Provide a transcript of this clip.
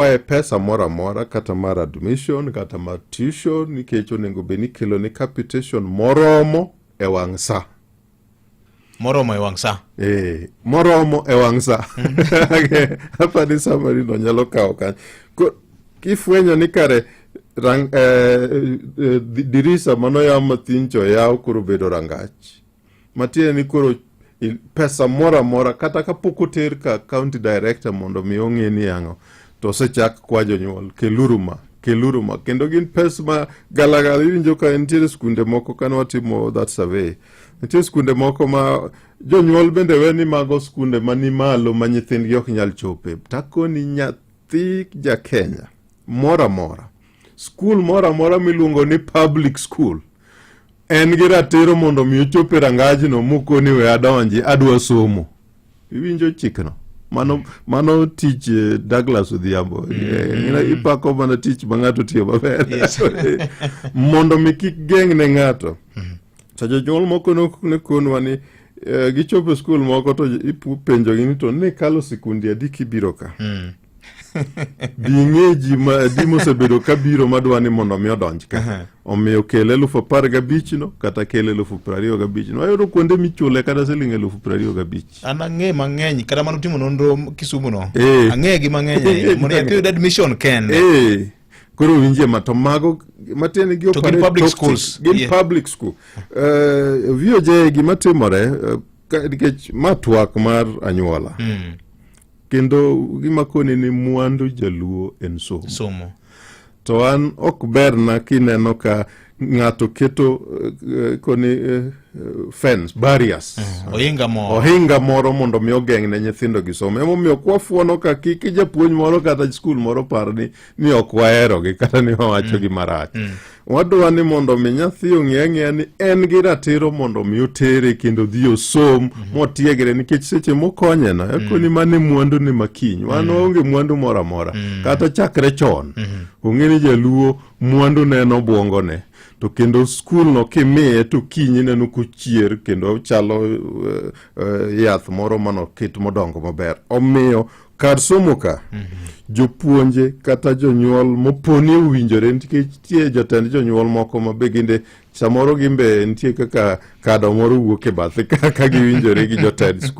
kwaye pesa moro amora kata mar admission kata mar tuition nikech onego bed ni kelo ni capitation moromo e wang' sa moromo e wang' sa e, eh, moromo e wang' sa apa ni samari no nyalo kawo kanyo kifwenyo ni kare rang, eh, eh, dirisa manoyaw mathincho yaw koro bedo rangach matiende ni koro pesa moro amora kata kapok oter ka county director mondo mi ong'e ni yang'o to osechak kwa jonyuol keluru ma keluru ma kendo gin pes ma galagala iwinjo ka nitiere skunde moko kane watimo that survey nitie skunde moko ma jonyuol bende we ni mago skunde mani malo ma nyithindgi ok nyal chope takoni nyathi ja kenya moro amora Skul moro amora miluongo ni public school en gi ratiro mondo omi ochop e rangajno mokoni we adonji adwa somo iwinjo chikno mano mano tich eh, Douglas Odhiambo mm. eh, eh, ipako mana tich ma ng'ato tiyo maber mondo mi kik geng' ne ng'ato mm. to jonyuol moko ne konwa ni gichopo e skul moko to ipenjogi ni to ne kalo sikundi adi kibiro ka mm. Ding'e ji ma di mosebedo ka biro ma dwa ni mondo omi odonj ka. Omiyo kel elufu apar gabich no kata kel elufu piero ariyo gabich no. Ayudo kuonde michule kata siling elufu piero ariyo gabich. An ang'e mang'eny kata mano timo nonro Kisumu no. Eh. Ang'e gi mang'eny ahinya. Mondo nyathi oyud admission kende. Eh, koro winjie ma to mago matiende gi To gin operate public toxic. schools. Gin Yeah. public school. Eh, VOJ gima timore eh, ka- nikech ma twak mar anyuola. kendo gimakoni ni mwandu jaluo en somo, somo. to an ok berna kineno ka ng'ato keto uh, koni uh, fence barriers mm, ohinga moro ohinga moro mondo mi ogeng' ne nyithindo gi somo emomiyo kwafuono ka kik japuonj moro kata skul moro par ni ni ok waherogi kata ni wawachogi mm. marach mm. wadwa ni mondo mi nyathi ong'e ang'eya ni en gi ratiro mondo mi otere kendo dhi osom mm -hmm. motiegre nikech seche mokonyena mm. ekoni mm. mane mwandu ni makiny wan mm. onge mwandu moro amora mm. kata chakre chon mm -hmm. ong'e ni jaluo mwandu ne en obwongone to kendo skulno kimiye to kinyi neno kochier kendo chalo uh, uh, yath moro manoket modongo maber omiyo kar somo ka jopuonje kata jonyuol moponi owinjore nikech nitie jotend jonyuol moko ma be ginde samoro gimbe nitie kaka kado moro wuok e bathe ka ka giwinjore gi jotend skul